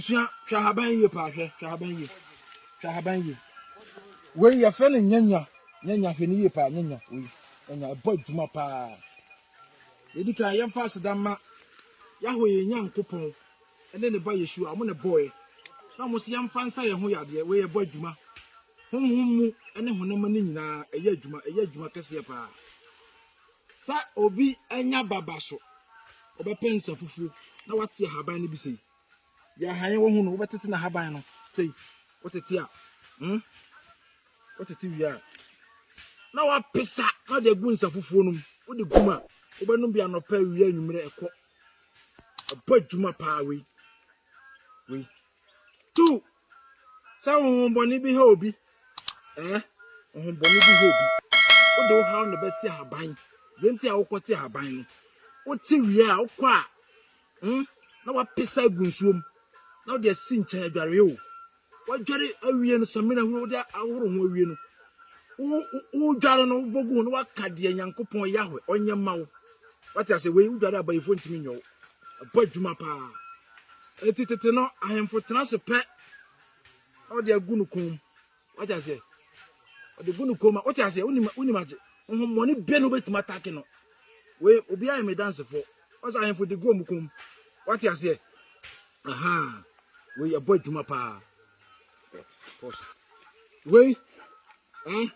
abusua hwɛ ahaban yie paa hwɛ hwɛ ahaban yie hwɛ ahaban yie wei yɛfrɛ no nyanya nyanya hwɛ no yie paa nyanya wei nyanya ɛbɔ adwuma paa yɛdi kan yɛmfa aseda ma yɛaho yɛ nyankopɔn ne ne ba Yeshua, wɔn na ɛbɔeɛ, na wɔn nso yɛmfa nsa yɛn ho yadeɛ, wei ɛbɔ adwuma, honhom mu ne honam ani nyinaa, ɛyɛ adwuma, ɛyɛ adwuma kɛseɛ paa. Sɛ obi anya baba so, ɔbɛpɛ nsa fufuo, na wate ahaban no bi sei, deɛ ahan wɔ ho no, wobɛtete n'ahaban no sei, wotete a, hmm? wotete wie a, na wapesa na de agu nsa fufuo no mu, wode gum a, wobɛnom bi anɔpa, awia, anwummerɛ, ɛkɔ. ɛbɔ adwuma paa wei wei tu sɛ honhommɔne bi ha obi ɛɛ honhommɔne bi ha obi wode wo haw na ɛbɛte ahaban deɛ nti a wokɔte ahaban no wote wie a wokɔ a hmm, na wapesa agu nsuom na wode asi nkyɛn adwareɛ o Woadware awie no, samina hunu wode ahoro ho awie no, wodware no wobɔ gu ho na waka deɛ Nyankopɔn Yahweh ɔnyɛ mma wo. Wate ase wei wodware abayifoɔ ntumi nyɛ wo. Ɛbɔ adwuma paa. Eti tete no ahemfo tena ase pɛ na wɔde agu no kɔn mu. Wate ase wɔde gu no kɔn mu. Wote ase wonim wonim agye. Nhomɔne bɛ no wobɛtumi atake no. Wei obiara yɛ me dansefoɔ. Ɔsɛ ahemfo de gu wɔn kɔn mu. Wate aseɛ Ahaa wei yɛbɔ adwuma paa. Wei ɛ eh?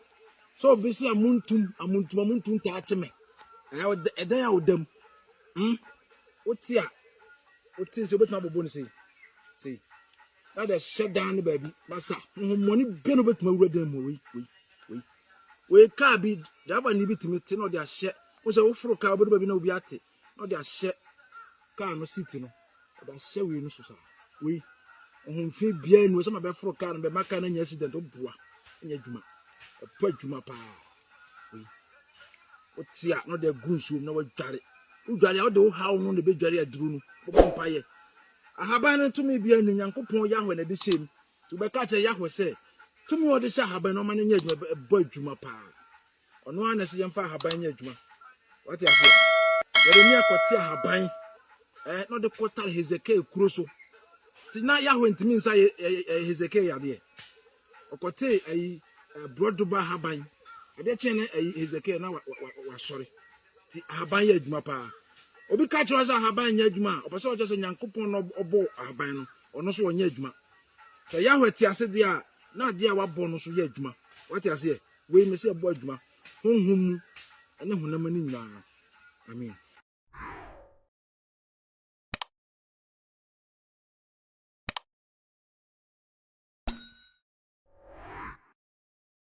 sɛ obi sɛ amuntum amuntum amuntum taa kye me eh, ɛdan a wodam mm? wote a wote sɛ wobɛtumi abobɔ no sei sei na de hyɛ dan no baabi na sa honhommɔne bɛ no wobɛtumi awura dan mu wei wei wei wei kaa bi driver ne bi tumi te na ɔde ahyɛ wo sɛ woforo kaa wobɛdu baabi na obi ate na ɔde ahyɛ kaa no seat no ɔde ahyɛ wei no so saa wei ɔhomfe biara ni ɔsɛm abɛforo kaa no bɛma kaa no anya accident ɔboa anya adwuma ɔpɔ adwuma paa wei wote a na ɔde agu nsuo mu na wadware wodware a wode wo haw no na ɛbɛdware aduro no bɔbɔ mpaeɛ ahaban no tumi biara ni nyankopɔn yahwɛ na ɛde hyɛ mu nti wobɛka kyerɛ yahwɛ sɛ tumi a ɔde hyɛ ahaban no ɔma no nyɛ adwuma ɛbɔ adwuma paa Ɔno ara na ɛsɛ yɛmfa ahaban nyɛ adwuma. Wate aseɛ? Yeremia kɔte ahaban eh, na ɔde kɔtare Hezekiel kuro so. Nti na Yahweh ntumi nsa Hezekiel yadeɛ. Ɔkɔte ayi borɔdoba ahaban. Adeɛ kyɛn na ayi Hezekiel na wasɔre. Nti ahaban yɛ adwuma paa. Obi ka kyerɛ sɛ ahaban nyɛ adwuma a, ɔpɛ sɛ ɔkyerɛ sɛ Nyankopɔn na ɔbɔ ahaban no, ɔno so ɔnyɛ adwuma. Sɛ Yahweh te ase deɛ a, na adeɛ a wabɔ no so yɛ adwuma. Wate aseɛ? Wei mese yɛbɔ adwuma honhom mu ne honam ani nyinaa. Amen.